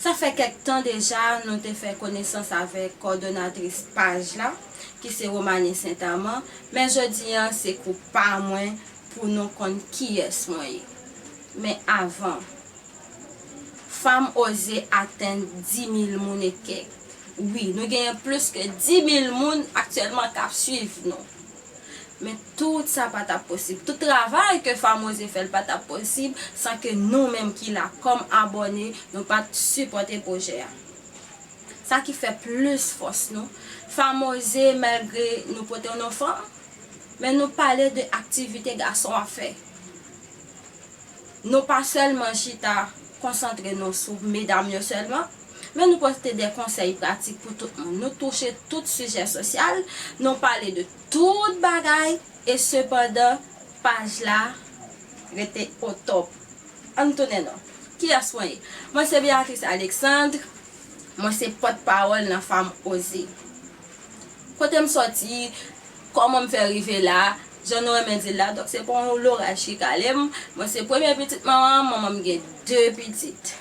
Sa fè kèk tan deja nou te fè konesans avèk kòdonatris paj la, ki se Romanie Saint Amand, men jodi an se kou pa mwen pou nou konn kiyès mwen ye. Men avan, fam oze atenn dimil moun e kèk. Wi, nou genyen plis ke dimil moun aktyèlman k ap swiv nou. Men tout sa pa tap posib, tout travay ke Famoze fè l pa tap posib san ke nou menm ki la kòm abòne nou pat sipòte pwojè a. Sa ki fè plis fòs nou, Famoze malgre nou pote w non fanm, men nou pale de aktivite gason ap fè. Nou pa sèlman chita konsantre nou sou medam yo sèlman, men nou pote de konsèy pratik pou tout moun. Nou touche tout sijè sosyal, nou pale de tout bagay, e sepandan paj la rete o tòp. An n tounen non. Kiyès mwen ye? Mwen se Béatrice Alexandre, mwen se pòtpawòl nan Fanm Oze. Kote m sòti, kòman m fè rive la, jan nou renmen di l la, donk se pa yon loraj ki kale m. Mwen se premye pitit manman m, manman m gen de pitit.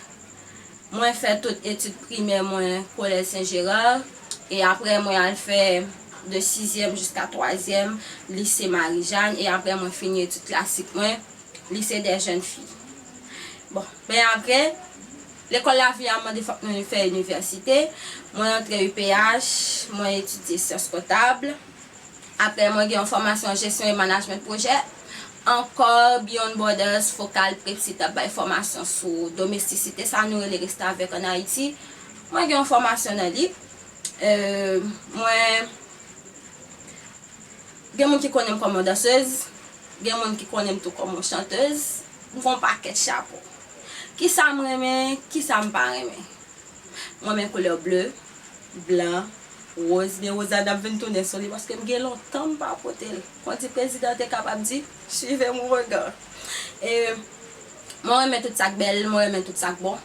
Mwen fè tout etid primè mwen Collège Saint Gérard, e aprè mwen al fè de sizyèm jiska twazyèm Lycée Marie Jeanne, e aprè mwen fini etid klasik mwen Lycée des Jeunes Filles. Bon, men aprè. Lekòl lavi a mande fòk moun fè inivèsite. Mwen antre UPH, mwen etidye syans kontab. Aprè mwen gen yon fòmasyon jesyon e manajment pwojè. Ankò, Beyond Borders, Fokal, Prepsi t ap bay fòmasyon sou domestisite, sa nou rele restavèk an Ayiti. Mwen gen yon fòmasyon nan li. Mwen gen moun ki konnen m kòm yon dansez, gen moun ki konnen m tou kòm yon chantez. M gen yon pakèt chapo. Kisa m renmen, kisa m pa renmen? M renmen koulè ble, blan, woz, men woz la dap vin tounen sou li paske m gen lontan m pa pote l. Kon di prezidan te kapab di, Suivez mon regard. E mwen renmen tout sa k bèl, mwen renmen tout sa k bon.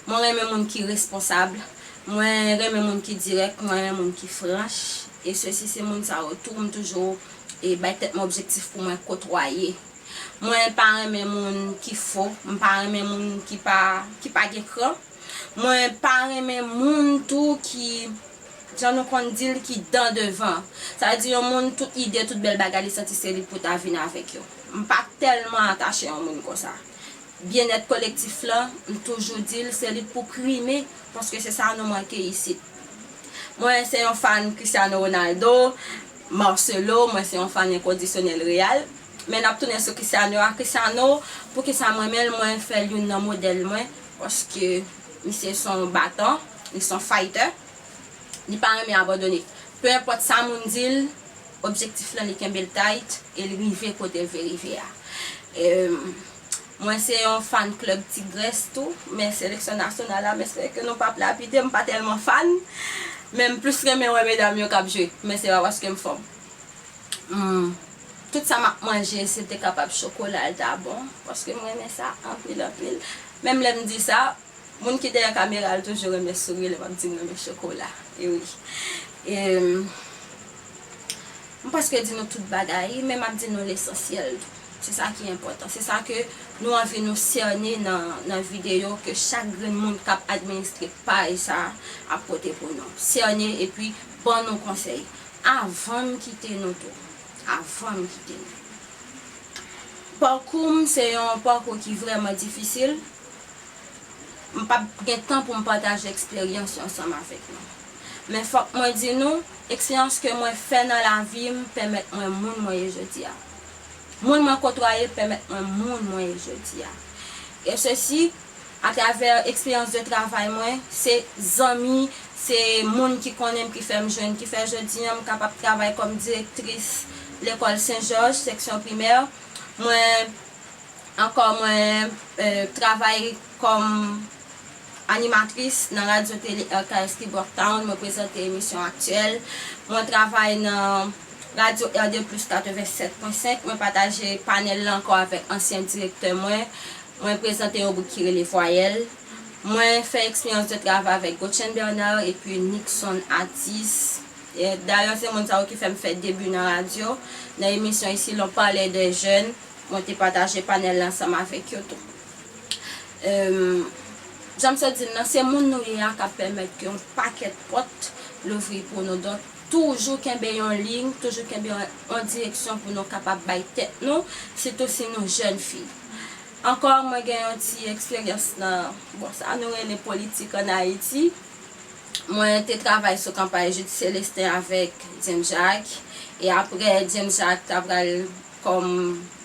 Mwen renmen moun ki responsab, mwen renmen moun ki dirèk, mwen renmen moun ki franch. E sesi se moun sa yo tou m toujou bay tèt mwen objektif pou mwen kotwaye. Mwen pa renmen moun ki fo, m pa renmen moun ki pa ki pa gen kran, mwen pa renmen moun tou ki jan nou konn di l ki dan devan. Sa vle di yon moun tout ide, tout bèl bagay li santi se li pou ta vin avèk yo. M pa tèlman atache yon moun konsa. Byennèt kolektif lan, m toujou di l se li k pou prime paske se sa nou manke isit. Mwen se yon fan Cristiano Ronaldo, Marcelo, mwen se yon fan enkondisyonèl Real. Men nap tounen sou Christiano a Christiano poukisa m renmen l mwen fèl youn nan modèl mwen paske misye son batan li son fighter li pa renmen abandone peu importe sa moun di l objectif lan li kenbe l tight e l rive kote l vle rive a mwen se yon fan club tigrès tou men seleksyon nasyonal la m espere ke nou pap lapide m pa tèlman fan men m plus renmen wè medam yo kap jwe men se pa paske m fanm. Humm tout sa map manje sil te kapab chokola l ta bon paske m renmen sa anpil anpil menm lè m di sa moun ki dèyè kamera l toujou renmen souri lè map di m renmen chokola e wi em m prèske di nou tout bagay men map di nou lesansyèl tou se sa ki enpòtan se sa ke nou anvi nou sène nan videyo ke chak grenn moun kap administre paj sa ap pote pou nou sène epi ban nou konsèy Avan m kite nou tou. Avan m kite nou. Pakou m se yon pakou ki vrèman difisil. M pap gen tan pou m pataje eksperyans yo ansanm avèk nou. Men fòk mwen di nou, eksperyans ke mwen fè nan lavi m pèmèt mwen moun mwen ye jodi a. Moun mwen kotwaye pèmèt mwen moun mwen ye jodi a. E sesi. A travè eksperyans de travay mwen, se zanmi, se moun ki konnen m ki fè m jwenn, ki fè jodi an m kapab travay kòm direktris lekòl Sen Jòj, seksyon primè. Mwen ankò mwen travay kòm animatris nan radyo tele RKS ki Brocktown, mwen prezante emisyon aktyèl. Mwen travay nan radyo RD Plus 87.5, mwen pataje panèl la ankò avèk ansyen direktè mwen. Mwen prezante yon gwoup ki rele Vwayèl. Mwen fè eksperyans de travay avèk Gotchen Bernard epi Nickson Atis. Dayè se moun sa yo ki fè m fè debi nan radyo. Nan emisyon Ici l'on parlait des jeunes, mwen te pataje panèl la ansanm avèk yo tou. Jan m sot di l lan, se moun nou ye a k ap pèmèt ke yon pakèt pòt louvri pou nou. Donk, toujou kenbe yon liy, toujou kenbe yon direksyon pou nou kapab bay tèt nou, sitou si nou jèn fi. Ankò mwen gen yon ti eksperyans nan, bon, sa nou rele politik an Ayiti. Mwen te travay sou kanpay Jude Celestin avèk James Jacques, e aprè James Jacques ta pral kòm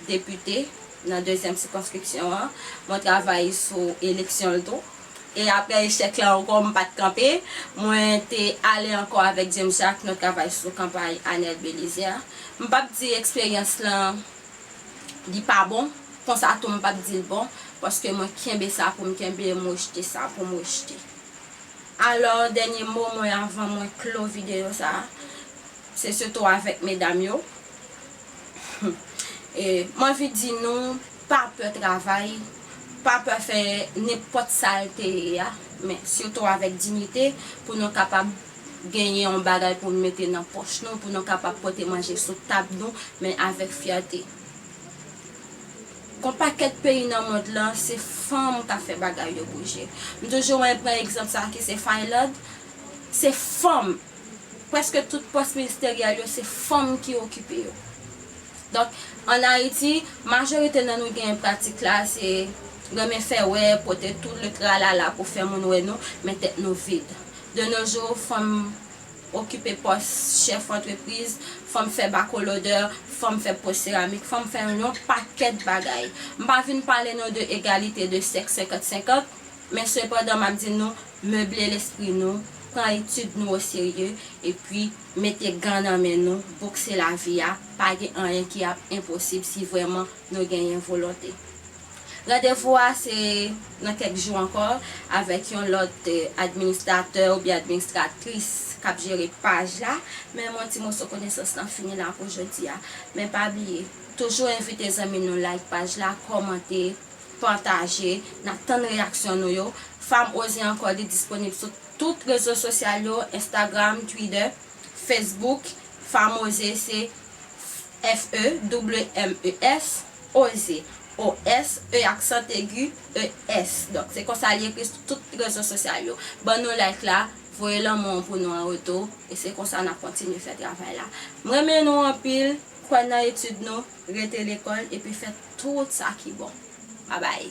depite nan dezyèm sikonskripsyon an, mwen travay sou eleksyon l tou. E aprè echèk la ankò, m pa t kanpe, mwen te ale ankò avèk James Jacques nou travay sou kanpay Anel Belizaire. M p ap di eksperyans lan. Li pa bon, konsa tou m pap di l bon, paske mwen kenbe sa pou m kenbe e m rejte sa pou m rejte. Alò, dènye mo mwen avan mwen klo videyo sa a, se sitou avèk medam yo, m anvi di nou pa pè travay, pa pè fè nenpòt sa l te ye a, men sitou avèk dinyite pou nou kapab. genyen yon bagay pou nou mete nan pòch nou, pou nou kapab pote manje sou tab nou, men avèk fyète. Kon pakèt peyi nan mond lan, se fanm k ap fè bagay yo bouje. M toujou renmen pran egzanp sa ki se Finland, se fanm, prèske tout pòs ministeryèl yo se fanm ki okipe yo. Donk, an Ayiti, majorite nan nou genyen pratik la, se renmen fè wè, pote tout le tralala pou fè moun wè nou, men tèt nou vid. De nos jours, fanm okipe pòs chèf antrepriz, fanm fè bakolodè, fanm fè po seramik, fanm fè yon pakèt bagay. M pa vin pale nou de egalite de sèks senkant senkant, men sepandan m ap di nou, meble lespri nou, pran etid nou oserye, epi mete gan nan men nou, bokse lavi a, pa gen anyen ki ap enposib si vrèman nou genyen volonte. Randevou a se nan kèk jou ankò avèk yon lòt administratè oubyen administratris k ap jere paj la. Menm yon ti moso konesans lan fini la pou jodi a. Men pa bliye, toujou envite zanmi nou like paj la, kòmante, pataje. N ap tann reyaksyon nou yo. Fam Oze Ankò li disponib sou tout rezo sosyal yo, Instagram, Twitter, Facebook. Fam Oze se. Fe, wmef, oze, os, e aksant egi, es. Donk se konsa li ekri sou tout rezo sosyal yo. Ban nou like la, voye lanmou an pou nou an retou, e se konsa nap kontinye fè travay la. M renmen nou anpil, kwè nan etid nou, rete lekòl, epi fè tout sa ki bon. Babay!